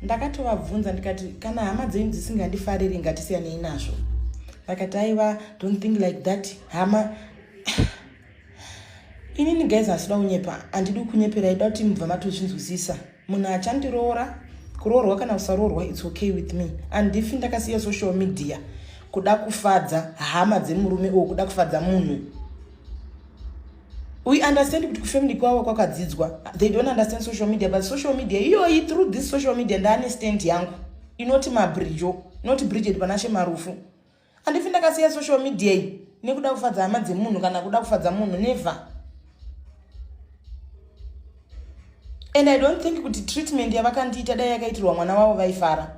ndakatovabvunza ndikati kana hama dzenyu dzisingandifariri ngatisiyanei nazvo vakati aiva don't think like that hama inini guys hasida kunyepa handidi kunyepera ida kuti mubva matozvinzwisisa munhu achandiroora kuroorwa kana kusaroorwa its okay with me and if ndakasiya social media kuda kufadza hama dzemurume o kuda kufadza munhu we understand kuti kufamily kwavo kwakadzidzwa they don't understand social media but social media iyoyi through this social media ndaane stand yangu inoti mabrijo not bridget panashe marufu andifi ndakasiya social media iyi nekuda kufadza hama dzemunhu kana kuda kufadza munhu never and i don't think kuti treatment yavakandiita dai yakaitirwa mwana wavo vaifara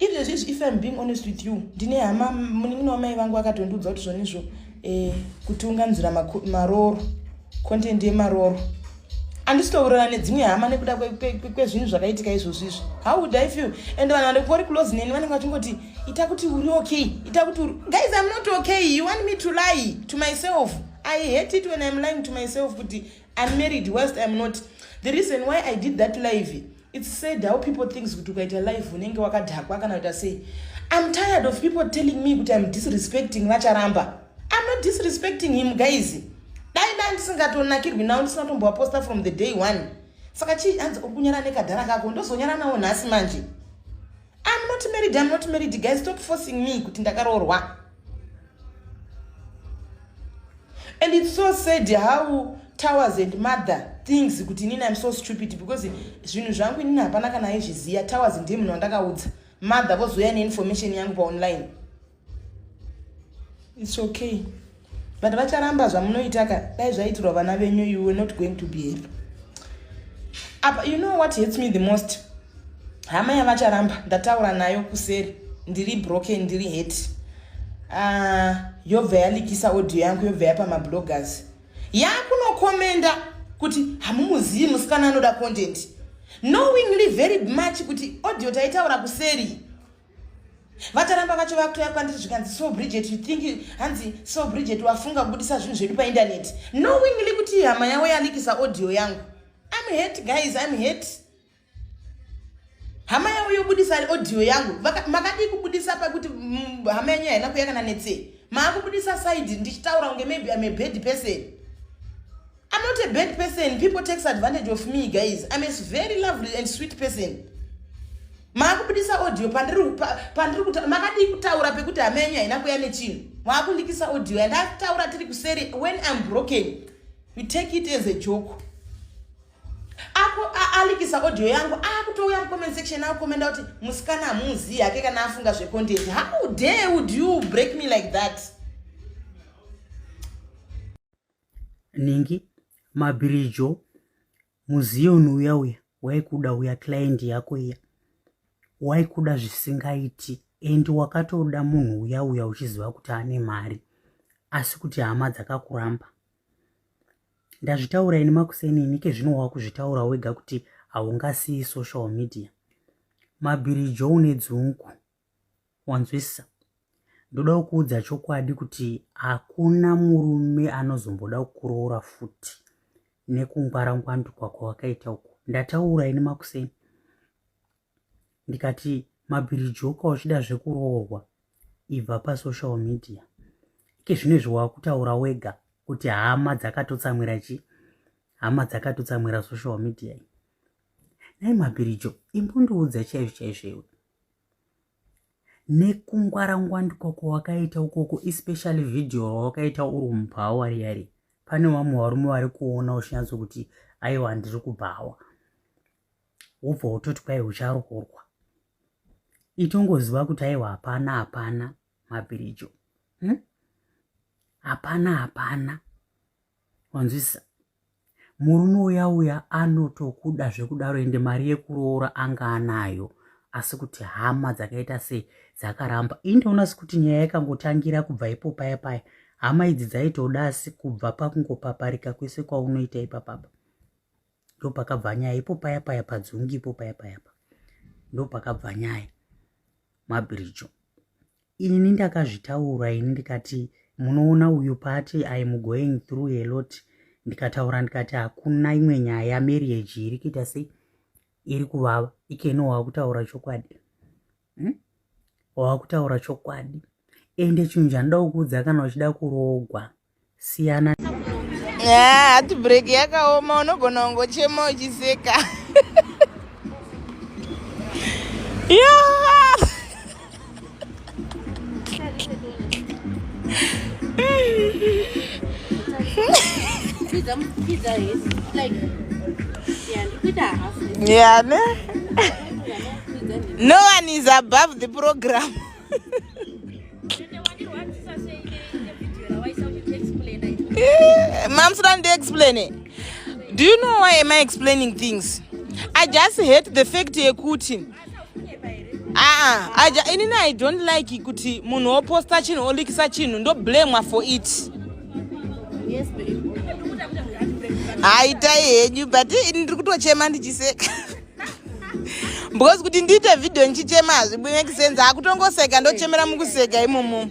If there's if I'm being honest with you, ndine hama munin'ina wamai vangu akatondiudza kuti zvonizvo eh, kuti unganzira maroro content yemaroro andisitourana nedzimwe hama nekuda kwezvinhu zvakaitika izvozvo izvo how would i feel and vanhu vanenge vari close neni vanenge vachingoti ita kuti uri okay ita kuti uri guys i'm not okay you want me to lie to myself i hate it when i'm lying to myself kuti i'm married whilst i'm not the reason why i did that live It's sad how people thinks kuti ukaita live unenge wakadhakwa kana kuita sei. I'm tired of people telling me kuti I'm disrespecting vacharamba. I'm not disrespecting him guys. Dai dai ndisingatonakirwi nawo ndisina kutombowa poster from the day one. Saka chii hanzi ukunyara nekadhara kako ndozonyara nawo nhasi manje. I'm not married, I'm not married guys stop forcing me kuti ndakaroorwa. and its so sad how towers and mother things kuti inini im so stupid because zvinhu zvangu inini hapana kana aizviziva towers ndiye munhu wandakaudza mother vozouya neinformation yangu paonline its okay but vacharamba zvamunoitaka dai zvaitirwa vana venyu you were not going to be happy apa you know what hates me the most hama yavacharamba ndataura nayo kuseri ndiri broken ndiri heti uh, ah, yobva yalikisa audio yangu yobva yapa mabloggers yakunokomenda kuti hamumuzivi musikana anoda content knowingly very much kuti audio taitaura kuseri vataramba vacho vakutoya kwandiri zvikanzi so bridget you think hanzi so bridget wafunga kubudisa zvinhu zvedu paindaneti knowingly kuti hama yavo yalikisa audio yangu im hate guys im hate hama yavo yobudisa audio yangu makadii kubudisa pakuti mm, hama yenyu haina kuya kana netsei maakubudisa side ndichitaura kunge maybe im a bad person i'm not a bad person people takes advantage of me guys im a very lovely and sweet person maakubudisa audio pandiri makadii kutaura pekuti hama yenyu haina kuya nechinhu maakundikisa audio andataura tiri kuseri when im broken you take it as a joke alikisa audio yangu akutouya mucomment section akukomenda kuti musikana hamuzivi hake kana afunga zvecontent how dare would you break me like that ningi mabirijo muzioni uya uya waikuda uya client yako iya waikuda zvisingaiti endi wakatoda munhu uya uya uchiziva kuti ane mari asi kuti hama dzakakuramba ndazvitaura ini makuseni ini kezvino wakuzvitaura wega kuti haungasiyi social media mabhirijo une dzungu wanzwisisa ndoda kukuudza chokwadi kuti hakuna murume anozomboda kukuroora futi nekungwara ngwandu kwako wakaita uku ndataura ini makuseni ndikati mabhirijoka uchida zvekuroorwa ibva pasocial media ike zvino izvi wakutaura wega kuti hama dzakatotsamwira chi hama dzakatotsamwira social media iyi nai mabhirijo imbundiudza chaizvo chaizvo iwe nekungwarangwa ndikoko wakaita ukoko especially video wakaita uri mubhawa riyari pane vamwe varume vari kuona uchinyatso kuti aiwa ndiri kubhawa wobva wototi kwai ucharoorwa itongoziva kuti aiwa hapana hapana mabhirijo hm? hapana hmm? hapana wanzwisisa murume uya uya anotokuda zvekudaro ende mari yekuroora anga anayo asi kuti hama dzakaita se dzakaramba indoona sekuti nyaya yakangotangira kubva ipo paya paya hama idzi dzaitoda asi kubva pakungopaparika kwese kwaunoita ipapapa ndopakabva nyaya ipo paya paya padzungi ipo paya paya pa ndopakabva nyaya mabhirijo ini ndakazvitaura ini ndikati munoona uyu pati iam going through a lot ndikataura ndikati hakuna imwe nyaya yamarriage iri kuita sei iri kuvava ikeno wakutaura chokwadi hmm? wakutaura chokwadi ende chinhu chandida kukuudza kana uchida kurogwa siyana hati yeah, break yakaoma unogona kungochema uchiseka Yeah, ne? No one is above the program. Eh, Moms don't explain it. Do you know why am I explaining things? I just hate the fact yekuti aa ah, ah, inini i don't like kuti munhu oposta chinhu olikisa chinhu ndoblamwa for it haitai henyu but ndiri kutochema ndichiseka because kuti ndiite video ndichichema hazvibuyi make sense akutongoseka ndochemera mukuseka imomo